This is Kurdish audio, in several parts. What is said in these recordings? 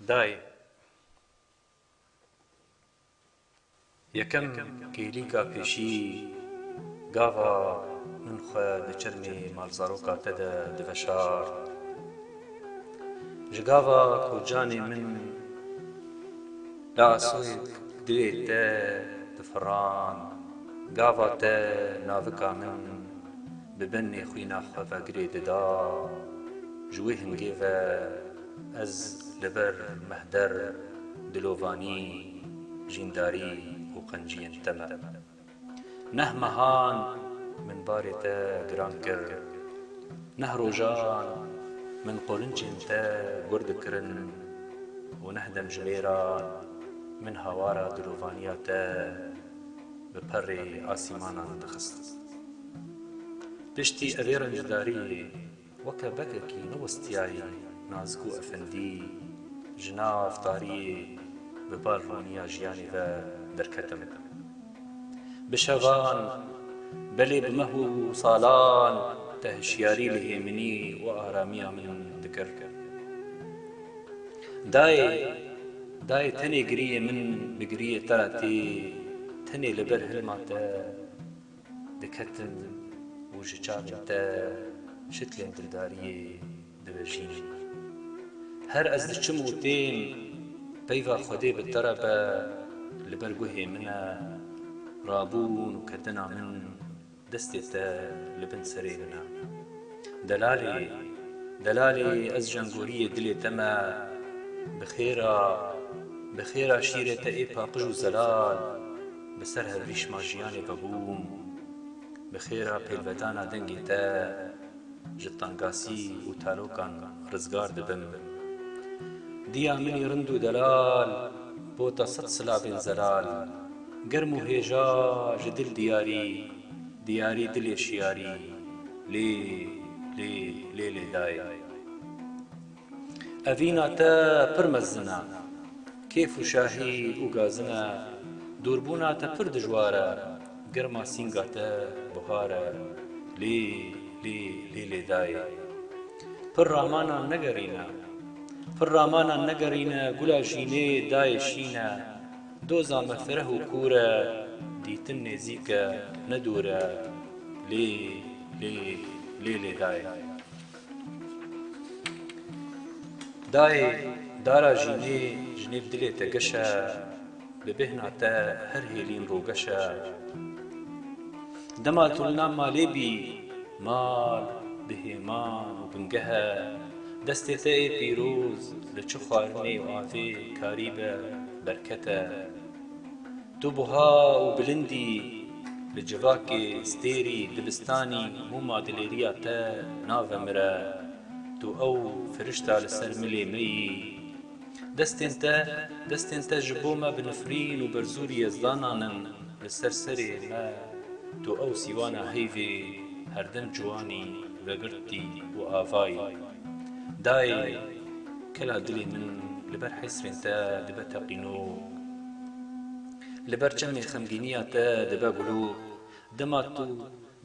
Dayê yekem kêlîka pêşî gava min xwe di çirmê malzaroka te de diveşart. Ji gava ku canê min li asûk duyê te difirand, gava te navika min Bi benê xwîna xwe vegirê dida, ji wê hingê ve ez li ber mehder, dilovanî, jîndarî û qenciyên te me. Neh mehan min barê te giran kir, neh rojan min qolincên te gur dikirin û neh demjimêran min hawara dilovaniya te bi perê asîmanan dixistin. Piştî evê rencdariyê weke bekekî newistiyayî Nazgû Efendî ji nav tariyê bi balrûniya jiyanê ve derketim. Bi şevan, belê bi meh û salan te hişyarî li hêminî û aramiya min dikir. Dayê, dayê tenê giriyê min bi giriyê te re tê, tenê li ber hilma te. diketin û ji çavên te şiklên dildariyê divejînin. Her ez diçim û tên, peyva Xwedê bi te re be, li ber guhê min e, rabûn û ketina min destê te li bin serê min e. Delalê, delalê ez jengoriyê dilê te me, bi xêra, bi xêra şîrê te ê paqij û zelal, Bi ser hevrîşma jiyanê vebûm. Bi xêra pêlvedana dengê te ji tangasî û tarokan rizgar dibim. Diya minî rind û delal bota sed silavên zelal. Germ û hêja ji dil diyarî, diyarî dilê şiyarî lê lê lê lê dayê. Evîna te pir mezin e. Kêf û şahî û gazin e. Dûrbûna te pir dijwar e. Girma sînga te buhar e. Lê lê lê lê dayê. Pir ramanan negerîne. Pir ramanan negerîne gula jînê dayê şîn e. Doza me fireh û kûr e. Dîtin nêzîk e ne dûr e. Lê lê lê lê dayê. Dayê dara jînê ji nêv dilê te geş e, bi bêhna te her hêlîn rogeş e. Dema tu li nav malê bî, mal bi hêman û bingeh e. Destê te ê pîroz li çi xwarinê û avê karî be, berket e. Tu buha û bilind î, li civakê, stêrî, dibistanî, mûma dilêriya te navemire. Tu ew firişta li ser milê me yî. Destên te, destên te ji bo me bi nifrîn û berzûrî ez danan in li ser serê me. Tu ew sîwana heyvê herdem ciwanî vegirtî û avayî. Dayê, kela dilê min li ber hesrên te dibe teqînog. Li ber çemên xemgîniya te dibe gulo, dema tu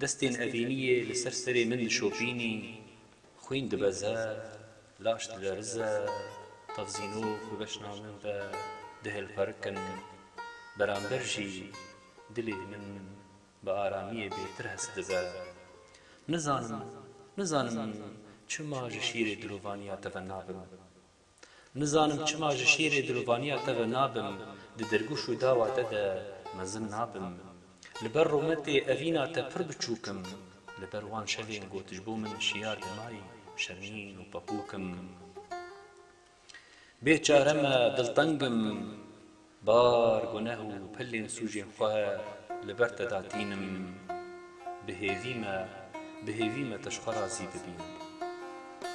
destên evîniyê li ser serê min dişopînî, xwîn dibe zerd, laş dilerize, tevzînok bi beşna min ve dihêlqerikin, beramber jî dilê min bi aramiyê bêtir hest dibe. Nizanim, nizanim çima ji şîrê dilovaniya te ve nabim. Nizanim çima ji şîrê dilovaniya te ve nabim, di dirgûş û dawa te de mezin nabim. Li ber rûmetê evîna te pir biçûk im, li ber wan şevên ku tu ji bo min şiyar dimayî şermîn û pepûk im. Bê çare me, dilteng im, bar, guneh û pilên sûcên xwe li ber te da tînim. Bi hêvî me, bi hêvî me te ji xwe razî bibîn.